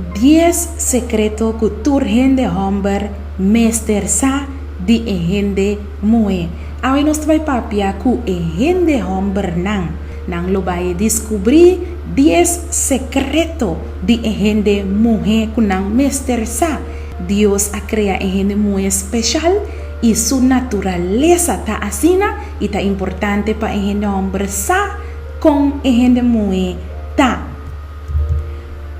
Dies sekreto ku tur hende hòmber mester sa di e hende muhé. Awe nos ta bai papia ku e hende hòmbernan. Nan lo bai diskubrí dies sekreto di e hende muhé ku nan mester sa. Dios a krea e hende muhé speshal i su naturalesa ta asina i ta importante pa e hende hòmber sa. Kon e hende muhe ta?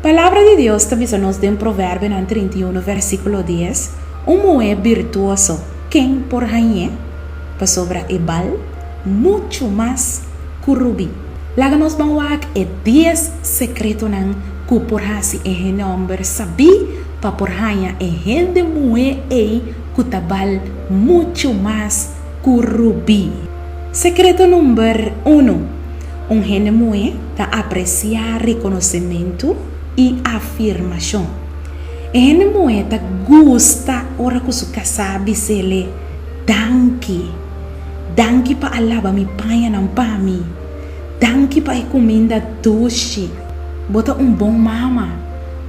Palabra di Dios ta bisa nos den Proverbionan trinta i unu versíkulo dies, Un muhe birtuoso, ken por hañ'é? Pasobra e bal muchu mas ku rubí. Laga nos ban wak e dies sekretonan ku por hasi e hende hòmber sabí pa por haña e hende muhe ei ku ta bal muchu mas ku rubí. Sekreto number uno, Un hende muhé ta apresiá rekonosementu i afirmashon. E hende muhé ta gusta ora ku su kasá bis'el'é, Danki. Danki pa a laba mi pañanan pa mi. Danki pa e kuminda dushi. Bo ta un bon mama.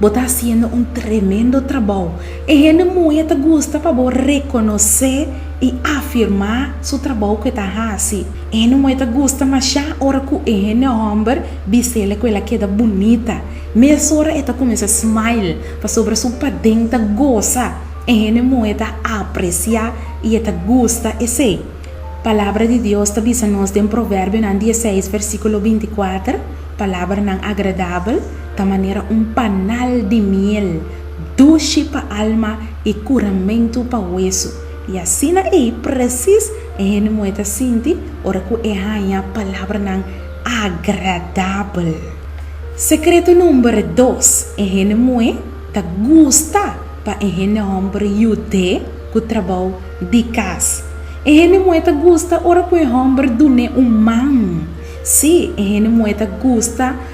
Bo ta hasiendo un tremendo trabou. E hende muhe ta gusta pa bo rekonosé i afirmá su trabou ku e ta hasi. E hende muhe ta gusta mashá ora ku e hende hòmber bis'ela ku el a keda bunita. Mesora e ta kuminsá smile pasobra su paden ta gosa. E hende muhe ta apresiá i e ta gusta esei. Palabra di Dios ta bisa nos den Proverbionan dieseis versíkulo binti kuater, Palabranan agradabel ta manera un panal di miel dushi pa alma i kuramentu pa wesu. I asina ei presis e hende muhé ta sinti ora ku e haña palabranan agradabel. Sekreto number dos, E hende muhé ta gusta pa e hende hòmber yud'é ku trabou di kas. E hende muhé ta gusta ora ku e hòmber dun'é un man. Sí, e hende muhé ta gusta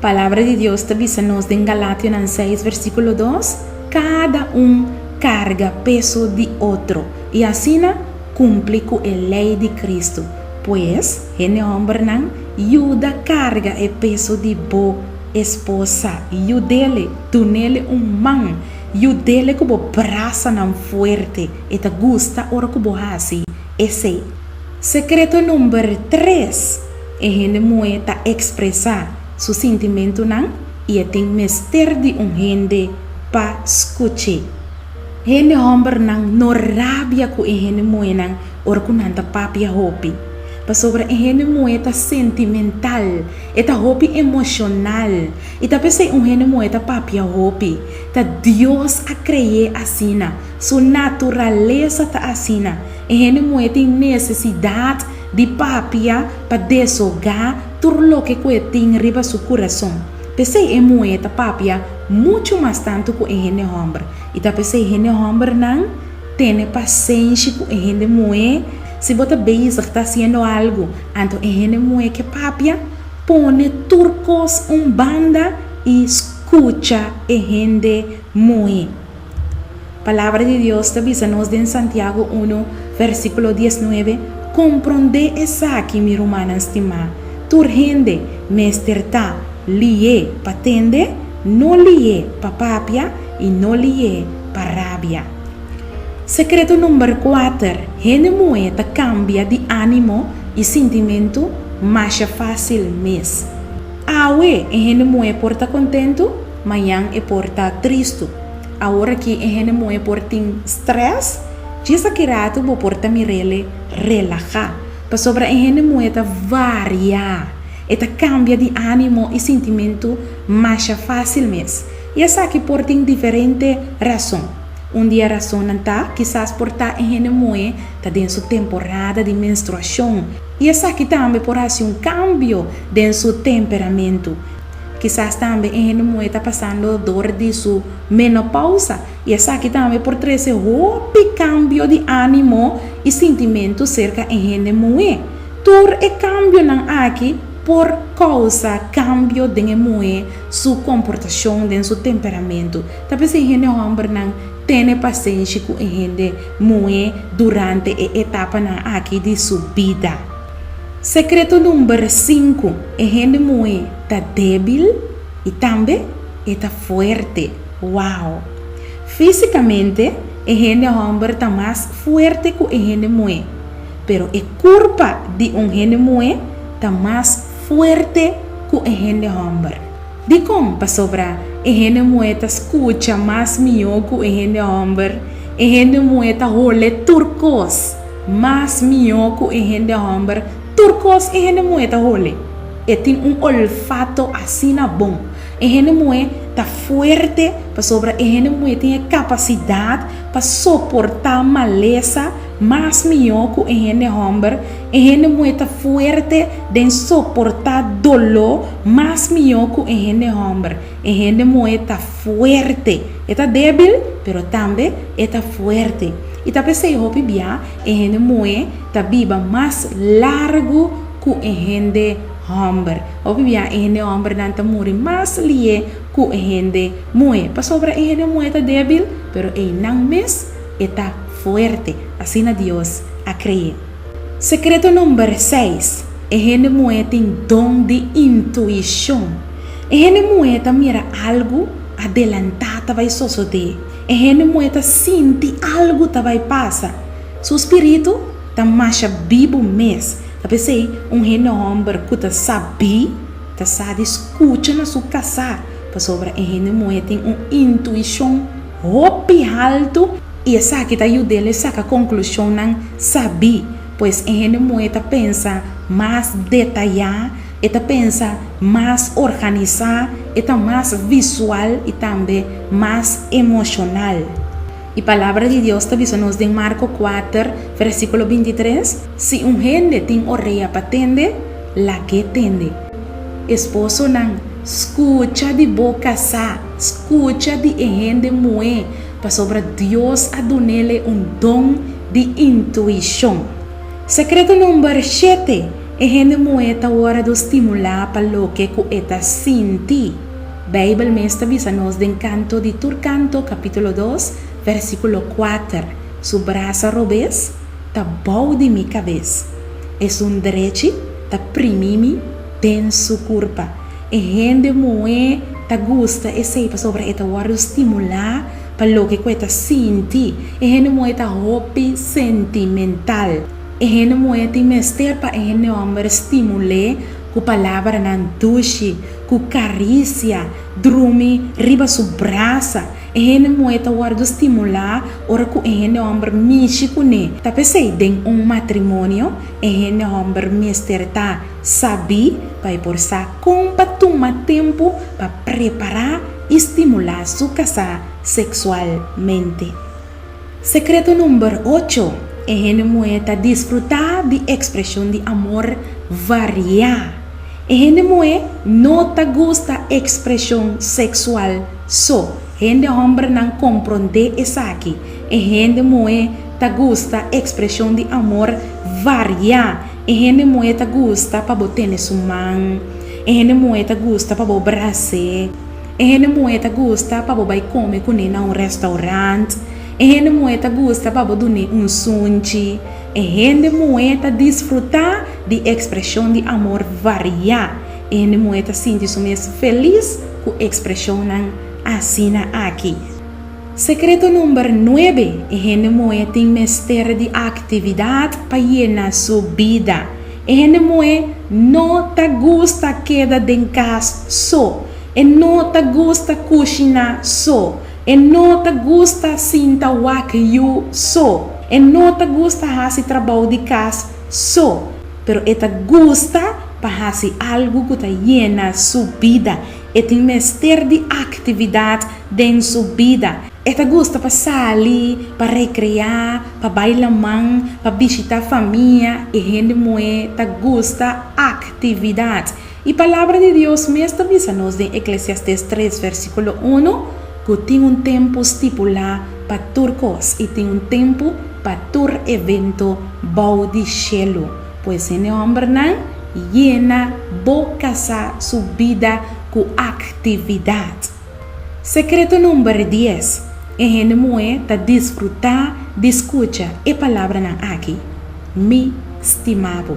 Palabra di Dios ta bisa nos den Galationan seis versiculo dos, Cada un carga peso di otro, y asina cumpli cu e ley di Cristo. Pues, hende hombernan, yuda carga e peso di bo esposa, yudele, dunele un man, yudele cu bo brasanan fuerte. E ta gusta ora cu bo haci esey. Secreto number tres. E hende muhé ta ekspresá su sintimentunan i e tin mester di un hende pa skuch'é. Hende hòmbernan no rabia ku e hende muhénan ora ku nan ta papia hopi, pasobra e hende muhé ta sentimental, e ta hopi emoshonal. I ta p'esei un hende muhé ta papia hopi. Ta Dios a kre'é asina. Su naturalesa ta asina. E hende muhé tin nesesidat Di papia pa deshoga tur loke ku e tin riba su kurason. P'esei e muhé ta papia muchu mas tantu ku e hende hòmber. I ta p'esei hende hòmbernan tene pasenshi ku e hende muhé. Si bo ta bezig ta hasiendo algu, anto e hende muhé ke papia, pone tur kos un banda i skucha e hende muhé. Palabra di Dios ta bisa nos den Santiago unu, versíkulo diesnuebe, Komprondé esaki, mi rumannan stimá, tur hende mester ta lié pa tende, no lié pa papia i no lié pa rabia. Sekreto number kuater, Hende muhé ta kambia di ánimo i sintimentu masha fásil mes. Awe e hende muhé por ta kontentu? Mañan e por ta tristu. Awor aki e hende muhé por tin strès. Djis aki ratu bo por ta mir'ele relahá. Pasobra e hende muhé ta variá. E ta kambia di ánimo i sintimentu masha fásil mes. I esaki por tin diferente rason. Un di e rasonnan ta, kisas por ta e hende muhé ta den su temporada di menstruashon i esaki tambe por hasi un kambio den su temperamentu. Kisas tambe e hende muhé ta pasando dor di su menopausa, i esaki tambe por trese hopi kambio di ánimo i sintimentu serka e hende muhé. Tur e kambionan aki por kousa kambio den e muhé su komportashon, den su temperamentu. Ta p'esei e hende hòmbernan tene pasenshi ku e hende muhé durante e etapanan aki di su bida. Sekreto number sinku, e hende muhé ta débil i tambe e ta fuerte. Wow! Físikamente e hende hòmber ta mas fuerte ku e hende muhé, pero e kurpa di un hende muhé ta mas fuerte ku e hende hòmber. Dikon? Pasobra e hende muhé ta skucha mas mihó ku e hende hòmber, e hende muhé ta hol'é tur kos mas mihó ku e hende hòmber, tur kos e hende muhé ta hol'é. E tin un olfato asina bon. E hende muhé ta fuerte, pasobra e hende muhé tin e kapasidat pa soportá malesa, Mas mihó ku e hende hòmber, e hende muhé ta fuerte den soportá doló mas mihó ku e hende hòmber. E hende muhé ta fuerte. E ta débil, pero tambe e ta fuerte. I ta p'esei hopi bia e hende muhé ta biba mas largu ku e hende hòmber. Hopi bia e hende hòmbernan ta muri mas lié ku e hende muhé, pasobra e hende muhé ta débil, pero einan mes e ta. Fuerte, asina Dios a cre'é. Secreto number seis, E hende muhé tin don di intuicion. E hende muhé ta mira algu adelantá ta bai sosodé. E hende muhé ta sinti algu ta bai pasa. Su spiritu ta masha bibu mes. Ta pesey un hende homber cu ta sa bi, ta sa di scucha na su casá, pasobra e hende muhé tin un intuicion. hopi haltu i esaki ta yud'el e saka konklushonnan sabí. Pues e hende muhé ta pensa mas detayá, e ta pensa mas organisá, e ta mas visual i tambe mas emoshonal. E Palabra di Dios ta bisa nos den Marko kuater, versíkulo binti tres, Si un hende tin orea pa tende, lag'é tende. Esposonan, skucha di bo kasá. skucha di e hende muhé pasobra Dios a dunel e un don di intuishon. Sekreto number shete, E hende muhé ta wòrda do stimulá pa loke ku e ta sinti. Beibel mes ta bisa nos den Kanto di tur kanto kapítulo dos, vèrsikulo kuater, Su brasa robes ta bou di mi kabes, e su ndrechi ta primí mi den su kurpa. E hende muhé ta gusta esei pasobra e ta wòrdu stimulá pa loke ku e ta sinti. E hende muhé ta hopi sentimental. E hende muhé tin mester pa e hende hòmber stimul'é ku palabranan dushi, ku karisia, drumi riba su brasa. E hende muhé ta wòrdu stimulá ora ku e hende hòmber mishi kuné. Ta p'esei den un matrimonio e hende hòmber mester ta. Sabí pa e por sa kon pa tuma tempu pa prepará i stimulá su kasá seksualmente. Sekreto number ocho, E hende muhé ta disfrutá di ekspreshon di amor variá. E hende muhé no ta gusta ekspreshon seksual so. Hende hòmbernan komprondé esaki. E hende muhé ta gusta ekspreshon di amor variá. E hende muhé ta gusta pa bo tene su man. E hende muhé ta gusta pa bo bras'é. E hende muhé ta gusta pa bo bai kome kuné na un rèstaurant. E hende muhé ta gusta pa bo dun'é un sunchi. E hende muhé ta disfrutá di ekspreshon di amor variá. E hende muhé ta sinti su mes felis ku ekspreshonnan asina aki. Secreto number nuebe, e hende moe tin mester di actividad pa yena su bida. E hende moe no ta gusta keda den cas so. E no ta gusta cushina so. E no ta gusta sinta wak yu so. E no ta gusta haci trabao di cas so. Pero e ta gusta pa haci algo cu ta yena su bida. E tin mester di actividad. Den su bida, e ta gusta pa sali, pa rekreá, pa bai laman, pa bishitá famia i hende muhé ta gusta aktividat. I Palabra di Dios mes ta bisa nos den Eklesiastés tres versíkulo unu ku tin un tempu stipulá pa tur kos i tin un tempu pa tur evento bou di shelu. Pues hende hòmbernan, yena bo kasá su bida ku aktividat. Sekreto number dies, E hende muhé ta disfrutá di skucha e palabranan aki, Mi stima bo.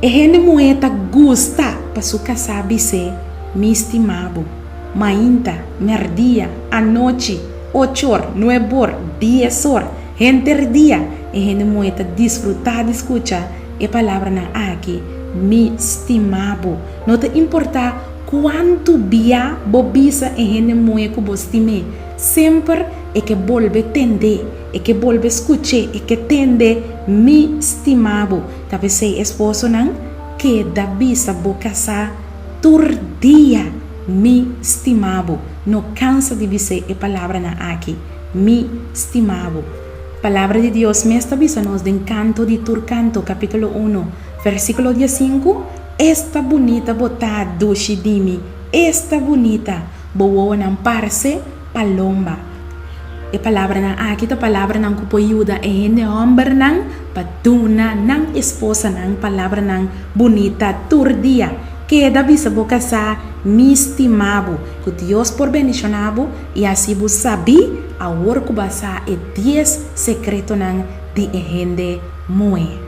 E hende muhé ta gusta pa su kasá bis'é, Mi stima bo, mainta, mèrdia, anochi, ochor, nuebor, diesor, henterdia. E hende muhé ta disfrutá di skucha e palabranan aki, Mi stima bo, No ta importá kuantu bia bo bisa e hende muhe ku bo stim'é, semper e ke bolbe tend'é, e ke bolbe skuch'é, e ke tende, Mi stima bo. Ta p'esei esposonan, keda bisa bo kasá tur dia, Mi stima bo. No kansa di bis'é e palabranan aki, Mi stima bo. Palabra di Dios mes ta bisa nos den Kanto di tur Kanto, kapítulo uno, vèrsikulo dies sinku, Esta bunita bo ta dushi dimi esta bunita bo wowonan parse palomba e palabranan aki ta palabranan ku por yuda e hende hòmbernan pa duna nan esposanan palabranan bunita tur dia keda bisa bo kasá mi stima bo ku Dios por bendishoná bo i asi bo sabí awor ku bo a sa e dies sekretonan di e hende muhé.